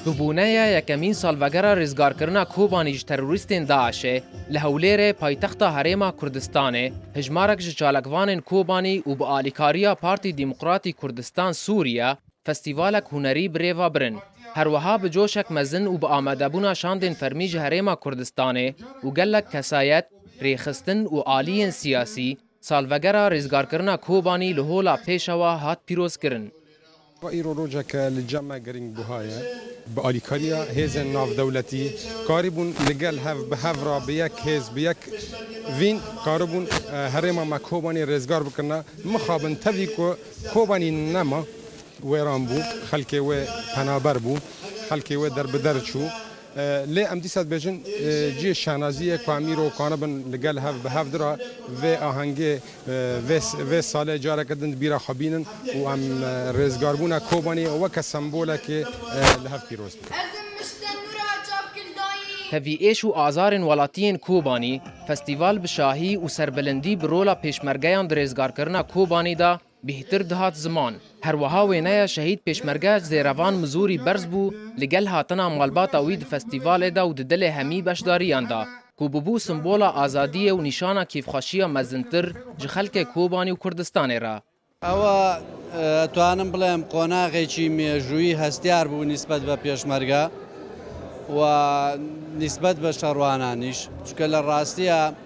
Bi boneya yekemîn salvegera rêzgarkirina Kobanî ji terorîstên DAIŞ'ê, li Hewlêrê paytexta Herêma Kurdistanê hejmarek ji çalakvanên Kobanî û bi alîkariya Partî Demokratî Kurdistan Sûriye festîvalek hunerî bi rêva birin. Herweha bi coşek mezin û bi amadebûna şandên fermî ji Herêma Kurdistanê û gelek kesayet, rêxistin û aliyên siyasî, Salvegera rêzgarkirina Kobanî li Hola Pêşewa hat pîrozkirin. Ev îro rojeke li cem me girîng buha ye. Bi alîkariya hêzên navdewletî karîbûn li gel hev bi hev re bi yek hêz bi yek vîn karibûn herêma me Kobanî rêzgar bikirina. Mixabin tevî ku Kobanî nema, wêran bû, xelkê wê penaber bû, xelkê wê der bi der çû. Lê em dîsa dibêjin cihê şanaziyê ku em îro kanibin li gel hev bi hev dira vê ahengê vê salê careke din di bîra xwe bînin û em rêzgarbûna Kobanî weke sembolekê li hev pîroz dikin. Tevî êş û azarên welatiyên Kobanî, festîval bi şahî û serbilindî bi rola pêşmergeyan di rêzgarkirina Kobanî de Bîhtir dihat ziman. Her wiha wêneya şehîd pêşmerge Zêrevan Mizûrî berz bû li gel hatina malbata wî di festîvalê de û di dilê hemî beşdariyan de ku bûbû simbola azadiyê û nîşana kêfxweşiya mezintir ji xelkê Kobanî û Kurdistanê re. Ewa dtwanim bilem qonaxekî mêjûyî hestiyar bû nîsbet be pêşmerge û nîsbet be şerwananîş. Çunke li rastiya.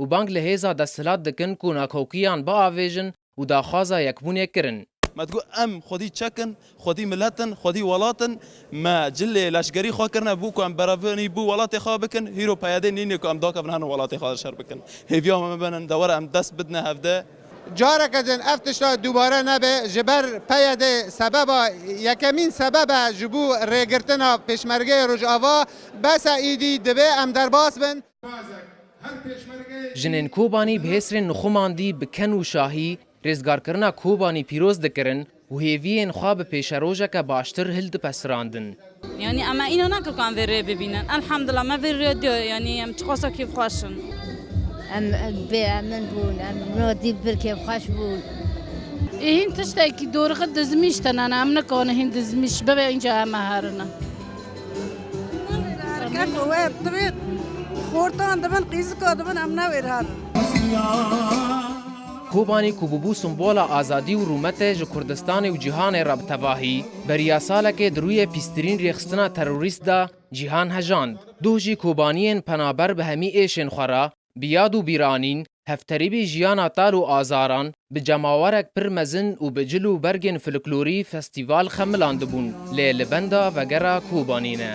û bang li hêza desthilat dikin ku nakokiyan biavêjin û daxwaza yekbûnê kirin. Me digot em xwedî çek in, xwedî milet in, xwedî welat in. Me cilê leşgerî xwe kirine bo ku em berevî bo welatê xwe bikin. Hîro peyedê nîne ku em dakevin heno welatê xwe şer bikin. Hêviya me bibin in de were em dest bidine hev de. Careke din ev tişta dubare nebe ji ber peyedê sebeba yekemîn sebebe ji bo rêgirtina Pêşmergeyê Rojava bes e. Îdî divê em derbas bin. Jinên Kobanî bi hêsrên Nixumandî bi ken û şahî rêzgarkirina Kobanî pîroz dikirin û hêviyên xwe bi pêşerojeke baştir hildipesirandin. Yanî em înan nakir ku em vê rêyê bibînin. Elhamdullah me vê rêya dîya yanî em çi qasa kêfxweş in. Em bê emin bûn, em nadî pir kêfxweş bûn. Ê hîn tiştekî dorixî dizmîşt e, nana em nikarin hîn dizmîşt bibe înca em e herina. Kobanî ku bûbû simbola azadî û rûmete ji Kurdistanê û cîhanê re bi tevahî, beriya salekê di rûyê pîstirîn rêxistina terorîst de cîhan hejand. Doh jî Kobaniyên penaber bi hemî êşên xwe re Bi yad û bîranîn, hevterîbî jiyana tal û azaran, bi cemawerek pir mezin û bi cil û bergên flklorî festîval xemilandibûn lê li benda vegera Kobanî ne.